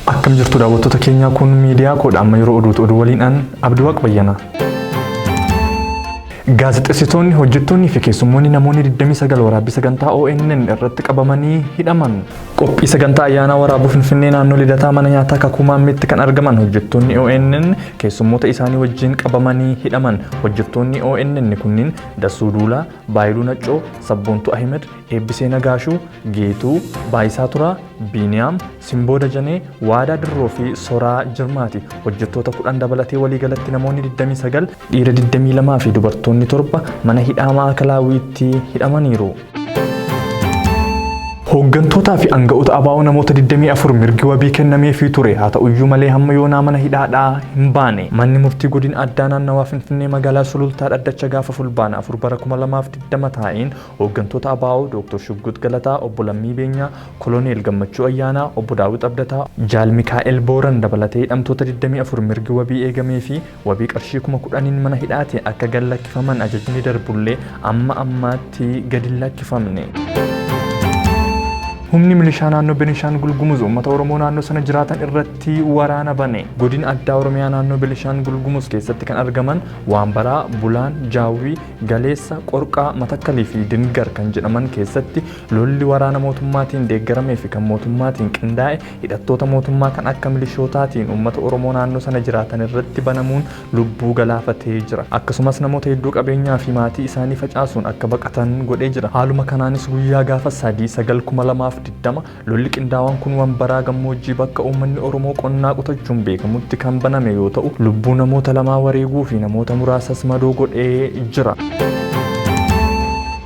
Akkam jirtu daawwattoota keenyaa kun miidiyaa koodha amma yeroo oduutu oduu waliin an Abdiwaaq Bayyana. Gaazexessitoonni, hojjettoonnii fi keessummoonni namoonni 29 waraabbii sagantaa ONN irratti qabamanii hidhaman. Qophii sagantaa ayyaanaa waraabuu Finfinnee naannoo Lidataa mana nyaataa Kakuu Maammeetti kan argaman hojjettoonni ONN keessummoota isaanii wajjin qabamanii hidhaman. Hojjettoonni ONN kunniin Dassuu Duulaa, Baayiluu Naccoo, Sabboontuu Ahimed, Eebbisee Nagaashuu, Geetuu, Baayisaa Turaa, Biiniyaam, Simboo Dajanee, Waadaa Dirroo fi Soraa Jirmaati. Hojjettoota 10 dabalatee waliigalatti namoonni 29, dhiira 22 fi dubartoonni 7 mana hidhaa Maa'akalaawiitti hidhamaniiru. Hooggantootaa fi aanga'oota ABO namoota 24 mirgi wabii kennameefii ture haa ta'uyyuu malee hamma yoonaa mana hidhaadhaa hin baane. Manni murtii godina addaa naannawaa Finfinnee magaalaa Sulultaa dhaddacha gaafa Fulbaana 4 bara 2020 taa'een hooggantoota ABO Dooktor Shugguut Galataa, Obbo Lammii Beenyaa, Koloneel Gammachuu Ayyaanaa, Obbo Daawit Abdataa, Jaal Mikaa'el Booran dabalatee hidhamtoota 24 mirgi wabii eegameefii Wabii qarshii kuma kudhaniin mana hidhaatii akka gad lakkifaman ajajni darbullee amma ammaatti gad hin lakkifamne. Humni milishaa naannoo Benishaangul Gumuz uummata Oromoo naannoo sana jiraatan irratti waraana bane. Godin addaa Oromiyaa naannoo Benishaangul Gumuz keessatti kan argaman Waanbaraa, Bulaan, Jaawwii, Galeessa, Qorqaa, Matakkalii fi Dingar kan jedhaman keessatti lolli waraana mootummaatiin deeggaramee fi kan mootummaatiin qindaa'e hidhattoota mootummaa kan akka milishootaatiin uummata Oromoo naannoo sana jiraatan irratti banamuun lubbuu galaafatee jira. Akkasumas namoota hedduu qabeenyaa fi maatii isaanii facaasuun akka baqatan godhee jira. Haaluma kanaanis guyyaa gaafa 3 9 2020 lolli qindaawaan kun Wambaraa gammoojjii bakka uummanni Oromoo qonnaa qotachuun beekamutti kan baname yoo ta'u lubbuu namoota lamaa wareeguu fi namoota muraasas madoo godhee jira.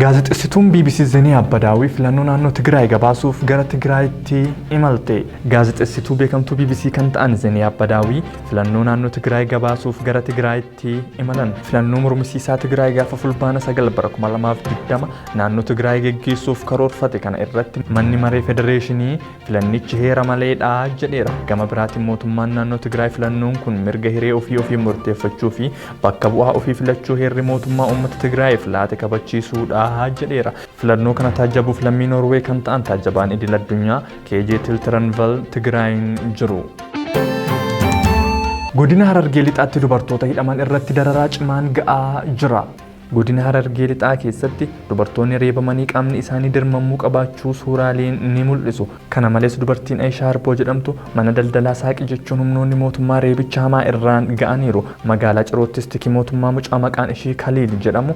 Gaazexessituun BBC Zeniyaa Badaawi filannoo naannoo Tigraay gabaasuuf gara Tigraayitti tti imalte. Gaazexessituu beekamtuu bbc kan ta'an Zeniyaab Badaawii filannoo naannoo Tigraay gabaasuuf gara Tigraayitti imalan. Filannoo mormisiisaa Tigraay gaafa Fulbaana 9 bara 2020 naannoo Tigraay geggeessuuf karoorfate kana irratti manni maree federeeshinii filannichi heera maleedha jedheera. Gama biraatiin mootummaan naannoo Tigraay filannoon kun mirga hiree ofii ofiin murteeffachuu fi bakka bu'aa ofii filachuu heerri mootummaa uummata Tigraayiif laate kabachiisuudha jedheera. Filannoo kana taajjabuuf lammii Noorweey kan ta'an taajjabaan idil addunyaa KJ Tiltiranval Tigraayin jiru. Godina Harargee Lixaatti dubartoota hidhaman irratti dararaa cimaan ga'aa jira. Godina Harargee Lixaa keessatti dubartoonni reebamanii qaamni isaanii dirmamuu qabaachuu suuraaleen ni mul'isu. Kana malees dubartiin Ayishaa Arboo jedhamtu mana daldalaa saaqi jechuun humnoonni mootummaa reebicha hamaa irraan ga'aniiru. Magaalaa Ciroottis tiki mootummaa mucaa maqaan ishii Kaliil jedhamu